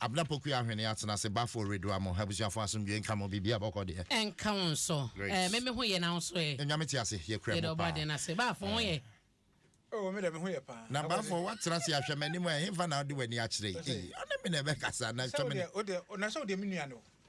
Abena Poku Ahwene atena ase Bafo Oreduah mo abusuafo asomdwie nka mo biribiara bɔkɔ deɛ. Ɛnka wo nso eh me me ho yɛ na wo nso eh. Nyame te ase yɛ kura mu paa. Yɛda ɔbɔ adeɛ no ase Bafo ho yɛ. Oh me deɛ me ho yɛ paa. Na Bafo watena ase ahwɛ m'anim a ɛhefa na wode w'ani akyerɛ yi ee ɔne me na ɛbɛkasa na twɛ me ne. Sɛ wo deɛ wo deɛ na sɛ wo deɛ me nua ne wo.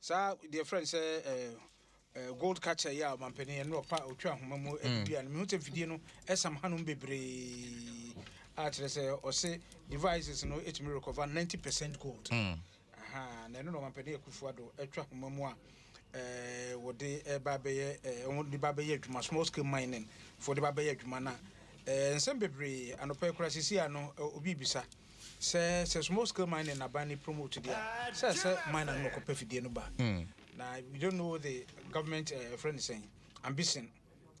Saa deɛ frɛ no sɛ ɛɛ gold catcher yi a ɔmampanin yɛn no ɔpa otwa ahoma mu ɛde dua no mehu sɛ mfidie no ɛsam hanom bebree a kyerɛ sɛ ɔse devices no ɛtumi recover 90 percent gold mm. aha na ɛno na ɔmampanin akufo ado atwa ahoma mu a ɛɛ wɔde ɛba bɛyɛ ɛɛ wɔn de ba bɛyɛ adwuma small scale mining fo de ba bɛyɛ adwuma na ɛɛ nsɛm bebree anɔpɛ kura sisi ano obi bisa. Sɛ sɛ small scale mining na ban ne promote deɛ a, sɛ sɛ miner no na ɔkɔpɛ fidie no ba. Na we don't know the government eh, ɛfrɛ no sɛn, ambition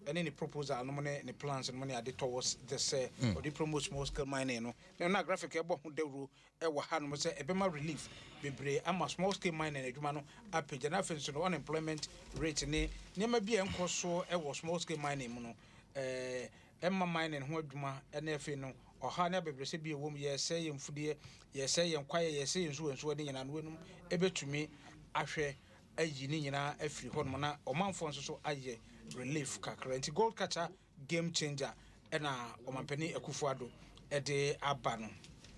ɛne ne proposal nom ne ne plans nom ne ade towards this sɛ ɔde promote small scale mining no. Na ɛno na Graphic ɛbɔ ho dawuro wɔ hanom sɛ ɛbɛma relief bebree ama small scale mining adwuma no apagya. Na afei nso no unemployment rate ne nneɛma bi a ɛnkɔ so wɔ small scale mining mu no eh, ɛmma mining ho adwuma ne afei no ɔhaw ne abɛbrɛsɛ bi a ɛwom, yɛresɛe yɛn mfudeɛ, yɛresɛe yɛn kwaeɛ, yɛresɛe yɛn nsuwansuwa ne nyinaa no weinom bɛtumi ahwɛ ayi ne nyinaa afiri hɔnom na ɔmanfoɔ nso so ayɛ relief kakra. Nti Gold Catcher Game Changer na Ɔmampanin Akufo-Addo de aba no.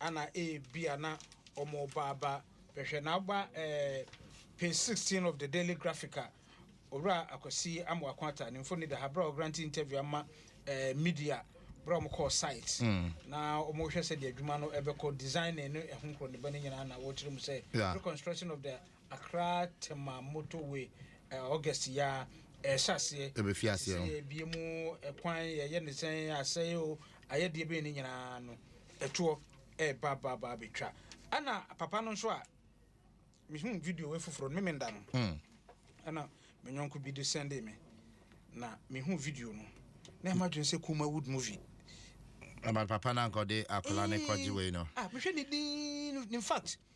Ana ebia na wɔreba aba bɛhwɛ no. Aba eh, Page 16 of The Daily Graphic a Owura Akwasi Amoako Atta ne mfoni da ha bere a ɔgrante interview ama eh, media bere a wɔkɔɔ site na wɔrehwɛ sɛdeɛ adwuma no ɛbɛkɔ, designing ne ɛho nkorɔneba no nyinaa na wɔrekyerɛ mu sɛ Yeah. reconstruction of the Accra Tema motorway eh, August yi ara ɛrehyɛ aseɛ. Ɛbɛfi aseɛ. Sɛ yɛbie mu eh, kwan yɛyɛ ne sɛn, asɛe o, ayɛdeɛ bɛn no nyinaa no ɛtoɔ ɛɛba ba ba abɛtwa ɛna papa no nso a mehuu video wei foforɔ no me menda no hmm. ɛna me nyɔnko bi de sɛnde me na mehu video no na ɛma dwene sɛ kuma wood movie ɛma papa no ankɔde akɔla ne kɔgye wei no ah, mehwɛ ne din in fact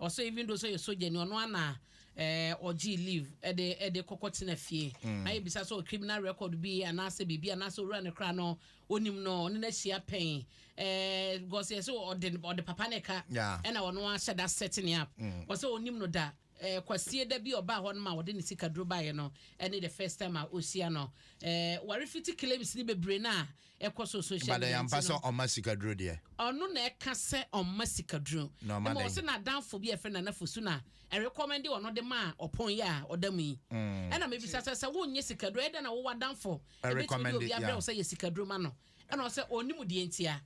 Ɔsɛ even though sɛ ɔyɛ sogyani ɔno ara na ɛɛ ɔgyee leave ɛde ɛde kɔkɔ tena fie na yɛbisa sɛ ɔwɔ criminal record bi anaasɛ biribi anaasɛ owura no koraa no onim no ɔne no ahyia pɛn ɛɛ because yɛsɛ ɔde ɔde papa no ka Yeah. ɛna ɔno ara hyɛ da set ne up ɔsɛ onim no da ɛɛ kwasie da bi a ɔbaa hɔ no ma ɔde ne sikaduro baeɛ no ɛne the first time a ɔhyia no ɛɛ ware fiti claims ne bebree no a Ɛkɔ so social media nti no. But ɛyɛ ampa sɛ ɔma sikaduro deɛ? Ɔno na ɛka sɛ ɔma sikaduro. Na ɔma dɛn? Ɛma ɔsɛ n'adamfo bi a ɛfɛ Nana Fosu na ɛrekɔmɛnde ɔno de maa ɔpɔn yi a ɔda mu yi. Mm. Ɛna mebisa sɛ sɛ wonyɛ sikaduro ɛdɛ na wowɔ adamfo. Ɛbɛtumi de obi abrɛ wo sɛ yɛ sikaduro ma no. Ɛna ɔsɛ ɔnim deɛ ntia.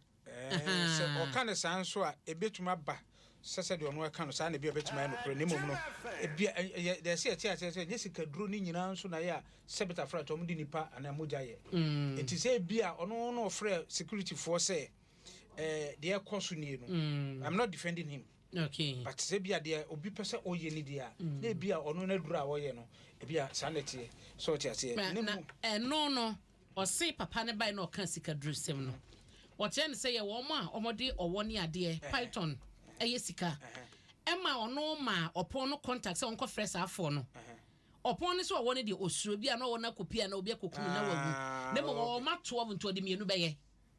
Ɛɛ sɛ ɔka no saa nso a ɛbɛtumi aba. sɛ sɛdeɛ ɔno ɛka no saa na ebia ɛbɛtumi ayɛ nokorɛ, na mmom no, ebia ɛ, ɛyɛ dɛ sɛ yɛte aseɛ sɛ ɛnyɛ sikaduro no nyinaa nso na ɛyɛ a Sebita frɛ atɔ wɔn de nnipa anaa mogya yɛ. Enti sɛ ebia ɔno na ɔfrɛ security foɔ sɛ ɛɛ deɛ ɛrekɔ so nie no, I'm not defending him, but sɛ ebia deɛ obi pɛ sɛ ɔyɛ ni deɛ a, na ebia ɔno n'aduro a ɔyɛ no, ebia saa na ɛteɛ, sɛ wote aseɛ? Na ɛno no, Ɔse papa no bae na ɔkaa sikadurusɛm no. Ɔkyerɛɛ no sɛ yɛ wɔn a wɔde ɔwɔ ne adeɛ, python, yɛ sika. Ɛmaa ɔno maa ɔpɔn no contact sɛ ɔnkɔfrɛ saa afoɔ no. Ɔpɔn no sɛ ɔwɔ no deɛ ɔsuro, ebia na ɔwɔ no akɔpia anaa obi akɔku no na wawu. Na mmom ɔwɔ mma 12 nti ɔde mmienu bɛyɛ.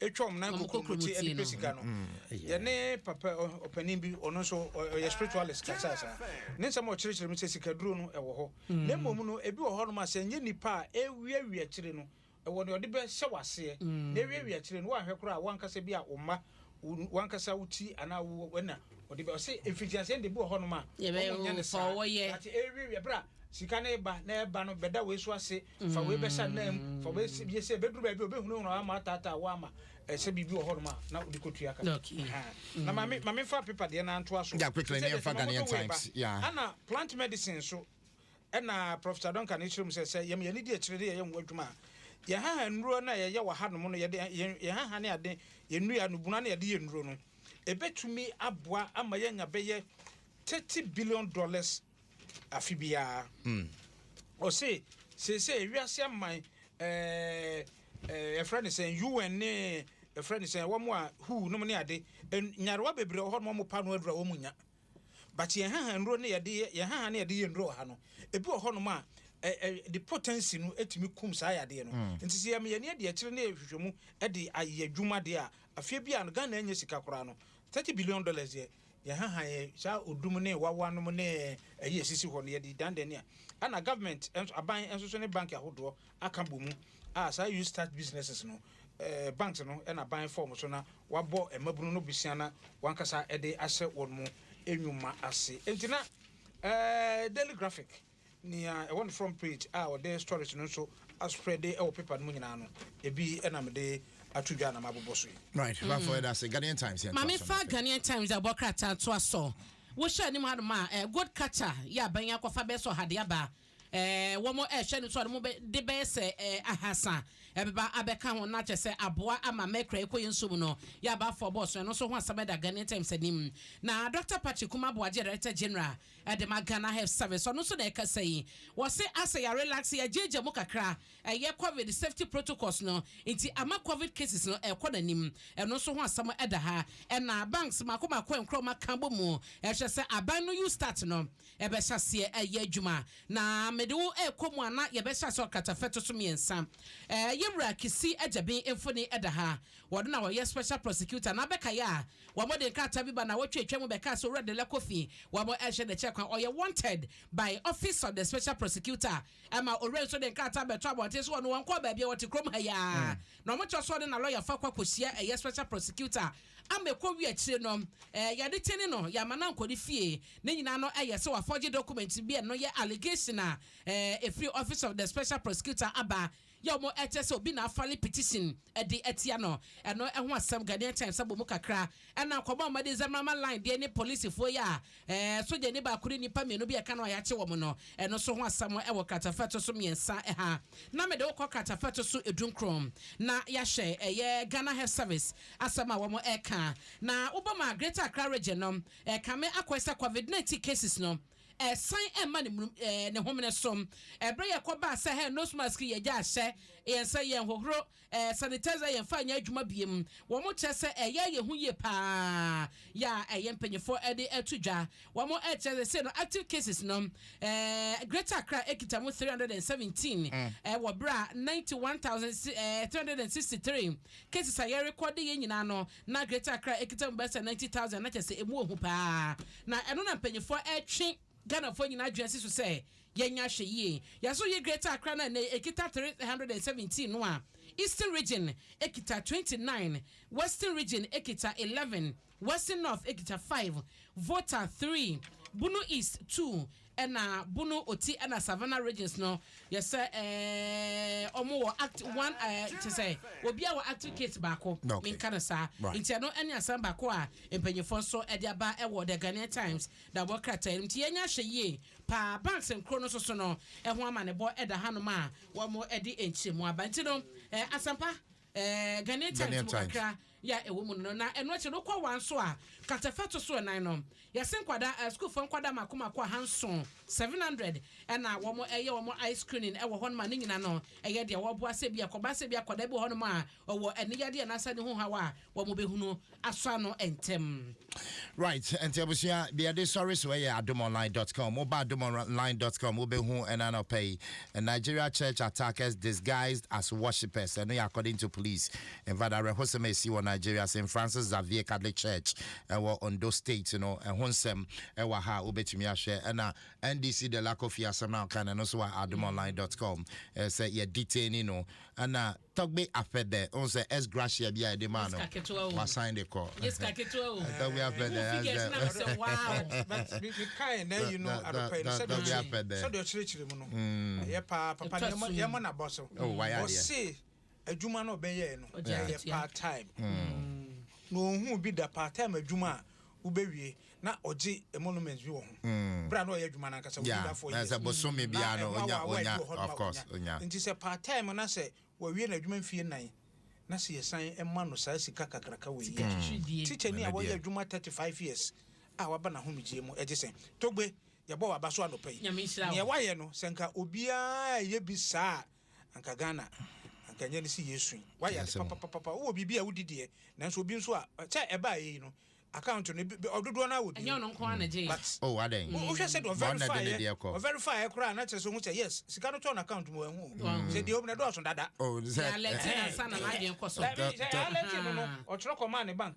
ɛtwa wɔn nan kokuromoti ɛde pɛ sika no yɛne papa ɔpanin bi ɔno nso ɔyɛ spiritualist kasa saa ne nsɛm a ɔkyerɛkyerɛ mu sɛ sikaduro no ɛwɔ hɔ mm. na mmom no ebi wɔ hɔ nom a sɛ nyɛ nipa a ɛwiawia akyire no ɛwɔ deɛ ɔde bɛhyɛ waseɛ mm. na ɛwiawia akyire no woanhwɛ koraa a woankasa bi a wo mma wankasa wo ti anaa wo ɛna Ɔde bɛ ɔse mfitiaseɛ no deɛ ebi wɔ hɔnom a wɔn nyɛ no saa but ɛrewiawia berɛ a sika no reba na ɛreba no bɛda wei so ase fa wei bɛhyɛ anan mu fa wei sɛ bie sɛ ɛbɛduru baabi a ɔbɛhunahuna ama ataataa wo ama ɛsɛ biribi wɔ hɔnom a na wode kɔtua ka na ma me ma me mfa paper deɛ no antoa so sɛ deɛ sɛ mamoto wei ba ana plant medicine so ɛna Professor Duncan kyerɛ mu sɛ sɛ yɛm yɛne di akyire de yɛyɛ ho adwuma a yɛhaha nnuro no a yɛyɛ wɔ hanom no yɛde yɛhaha ne ade yɛnnua no buna no yɛde yɛ nnuro no Ebetumi aboa ama yɛanya bɛyɛ thirty billion dollars afe biara. Ɔse seesei wiase aman ɛɛ ɛfrɛ ne sɛn UN ne ɛfrɛ ne sɛn wɔn a who nom ne ade nyarewa bebree wɔ hɔ nom a wɔn pa ano aduru a wɔn nya. But yɛn haha nnuro ne yɛde yɛ yɛn haha ne yɛde yɛ nnuro wɔ ha no, ebi wɔ hɔnom a ɛ ɛ de potency no tumi kum saa yadeɛ no. Mm. Nti sɛ yɛn yɛn ani adi akyire na yɛhwehwɛ mu de ayɛ adwuma deɛ a, afie bi a no Ghana nyɛ sika koraa no, thirty billion dollars deɛ yɛn haha yɛ saa odum ne wawa nom ne ɛyi esisi hɔ no yɛde dandan ni a, ɛna government nso aban nso so ne bank ahodoɔ aka bɔ mu a saa Youth Start Businesses no Banks no na ban fɔm so na wabɔ mmabunu no bosea na wankasa de ahyɛ wɔn mo nnwuma ase. Enti na Daily Graphic nea ɛwɔ ne front page a ɔde stories no nso aspreade wɔ paper no mu nyinaa no, ebi na mede ato dwa na mabobɔ so yi. Right, mm. Bafo ɛda se Ghanaian Times yɛn Mame fa Ghanaian Times a bɔ krataa to aso. Wohyɛ anim hanom a eh, gold catcher yɛ aban akɔfa bɛsɔ hade aba. Wɔrehwɛ no so a, ne mu bɛ de bɛyɛ sɛ ahasa ɛbɛba abɛka ho, na kyerɛ sɛ aboa ama mɛkura ɛkɔ yɛn nsuo mu no yɛ aba afɔ bɔɔso. Ɛno nso ho asɛm da Ghanaian Times anim. Na Dɔkta Patrick Kumah Boagye, Director General ɛde ma Ghana Health Service, ɔno nso na ɛkasa yi. Wɔse asɛ yɛ relax, yɛ agyaagya mu kakra, ɛyɛ Covid safety protocols no nti ama Covid cases no ɛrekɔ n'anim. Ɛno nso ho asɛm da ha. Ɛna banks mako mako a nkorɔma ka bɔ mu ɛhwɛ sɛ aban no you start no. Ɛbɛhyɛ aseɛ ayɛ adwuma na mede wo rekɔ mu ana? Yɛbɛhyɛ aseɛ ɔkata fɛto so mmiɛnsa. Ɛɛ yɛn wura Kissi Agyabi mfoni da ha. Wɔno na wɔyɛ special prosecutor na bɛkaeɛ a wɔn de nkrataa bi ba nawɔtwe atwa mu bɛkaa sɛ owura Dela Kofi wɔn rehwɛ n'akyi akwan ɔyɛ wanted by office of the special prosecutor ɛma owura yi nso de nkrataa bɛto abɔnten so wɔno wɔnkɔɔ baabiara wɔte kurom ha yi ara na wɔkyerɛ so ɔne na lɔyafoɔ akɔ akɔhyia ɛyɛ special prosecutor ama ɛkɔwie akyire no yɛde tene no, yɛama no ankɔ ne fie. Ne nyinaa no yɛ sɛ wɔafɔgye document bi a ɛno yɛ allegation a ɛfiri Office of the Special Prosecutor aba yɛ wɔn ɛkyɛ sɛ obi na afale petition de atia no. Ɛno ho asɛm Ghanaian Times abɔ mu kakra ɛna nkɔmmɔ a wɔde Zemrama line deɛ ne policefoɔ yi a Ɛɛ, sogyani baako ne nnipa mmienu bi a ɛka no a yɛakye wɔn no, ɛno nso ho asɛm wɔ kratafa a ɛto so mmiɛnsa ha. Na mede wo kɔ kratafa a ɛto so edunkron, na yɛahwɛ ɛyɛ Ghana Health Service asɛm a wɔreka. Na wobom a, Greater Accra Region no ɛrekame akɔe sɛ Covid nineteen cases no ɛresan ɛrema ne mum ɛɛ ne homene so. Ɛberɛ yɛkɔbaa sɛ hɛɛ nose mask yɛgyaa hyɛ yɛn sɛ yɛnhohoro Ɛɛ sanitizer yɛn fa nyɛ adwuma biem wɔn kyerɛ sɛ ɛyɛ yɛn ho yie paa yɛ a ɛyɛ mpanyinfoɔ ɛde ɛto dwa wɔn ɛkyerɛ sɛ sei no active cases no ɛɛ greater accra ɛkita mu three hundred and seventeen ɛwɔ berɛ a ninety one thousand ɛɛ three hundred and sixty three cases a yɛ rekɔde yɛ nyinaa no na greater accra ɛkita mu bɛsɛ ninety thousand na kyerɛ sɛ ɛmu ohu paa na ɛno na mpanyinfoɔ ɛtwe Ghanafoɔ nyinaa adwene si so sɛ yɛnya ahwɛyie. Yɛn nso yi Greater Accra no a nnɛ ɛkita three hundred and seventeen no a, Eastern Region kita twenty nine, Western Region kita eleven, Western North kita five, Volta three, Bono East two, ɛna Bono, Oti ɛna Savannah Regions no yɛ sɛ ɛɛ wɔn wɔ act one ɛɛ kyɛ sɛ obiara wɔ active case baako. Menka no saa. Nti ɛno ɛne asɛm baako a mpanyinfoɔ nso ɛde aba ɛwɔ The Ghanaian Times Da bɔ krataa no nti yɛnyɛ ahwɛ yie paa banks nkoro no soso no ɛho amanebɔ ɛda hanom a wɔn ɛde nkyerɛmu aba nti no ɛɛ asampa ɛɛ Ghanaian Times mu kakra yɛ ɛwɔ mu no na ɛno akyi no kɔ wɔn nso a katafa to so ɛnan no yɛse nkwadaa ɛɛ sukuufoɔ nkwadaa mako mako aha nson seven hundred ɛna wɔn ɛyɛ wɔn eye screening ɛwɔ hɔnom a ne nyina no ɛyɛ deɛ wɔboa sɛ bi akɔba sɛ bi akɔda bi wɔ hɔnom a ɔwɔ aniyadeɛ anaasɛ ne ho haw a wɔn bɛhunu asɔ ano ntɛm. Right, nti abusua deɛ ɛde sɔre so ɛyɛ adomonline.com. Woba adomonline.com wobɛhu ɛna anɔpa yi Nigeria church attackers disguised as worshippers. Ɛno yɛ according to police. In fact, awerɛhosɛm a ɛsi wɔ Nigeria, St. Francis Xavier Catholic Church ɛwɔ Ondo State no ɛho nsɛm ɛwɔ ha a wobɛtumi ahwɛ. Ɛna NDC Delacofie asɛm no a ɔka no ɛno nso wɔ adomonline.com. Ɛyɛ sɛ yɛ detaini no ɛna Tɔgbe Afɛdɛ, wohu sɛ S Gracia bi a yɛde maa no, wasan de kɔ. Tɔgbe Afɛdɛ, ɛyɛ sɛ. Mekae nnɛ yi no anɔpa yi no sɛdeɛ sɛdeɛ ɔkyerɛkyerɛ mu no, ɛyɛ paa. Papa no yɛmmɔ no abɔ so. Ɔse adwuma no ɔbɛyɛɛ no ɛyɛ part time. Na ɔnhuu bi da part time adwuma a wobewie na ɔgye emoluments bi wɔ ho bere a na ɔyɛ adwuma no ankasa wɔ ne da four years na ɛho awaawa bi wɔ hɔ nom a onya nti sɛ part time na sɛ wawie n'adwuma mfie nnan na sɛ yɛsan ma no saa sika kakraka wei yi a teacher ni a wayɛ adwuma thirty five years a waba n'ahomegyeɛ mu ɛgye sɛn Togbe yɛbɔ w'aba so anɔpa yi nea wayɛ no sɛ nka obiara ɛyɛ bi saa a Anka Ghana anka nyɛ ne se yesu yi wayɛ ade papapapa wowɔ biribi a wodi deɛ nanso obi nso a sɛ ɛbaa yɛ yi no account no ɔdodoɔ no awɔ bi ɛnyɛ ɔno nko ara na gye yɛ oh adɛn wohwɛ sɛ deɛ ɔverifyɛ ɔverifyɛ koraa na kyerɛ sɛ ohu sɛ yes sika no tɔɔ no account mu ɛhu sɛ deɛ obi na ɛdɔɔso dada oh sɛ alɛte na nsa na n'adwene kɔ so sɛ alɛte no no ɔtwerɛ kɔmaa ne bank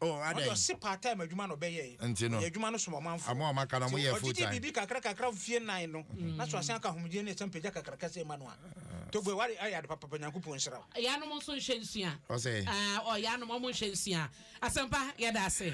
Oh, adɛn? Ɔde ɔse part time adwuma na ɔbɛyɛe. Nti no. Ɔyɛ adwuma no som ɔmanfoɔ. Ɔmo a ɔmo aka no, ɔmo Nti yɛ full ɔgye di time. biribi kakra kakra mfie nnan no, na so asan aka ahomegyeɛ ne ɛsɛm pagya kakraka sei ma no a. Togoe, woayɛ ayɛ ade papapa, Nyankopɔn nhyira wo. Yanom nso nhwɛ nsua. Ɔsɛ. Aah ɔɔ yanom ɔmo nhwɛ nsua. Asɛmpa, yɛda ase.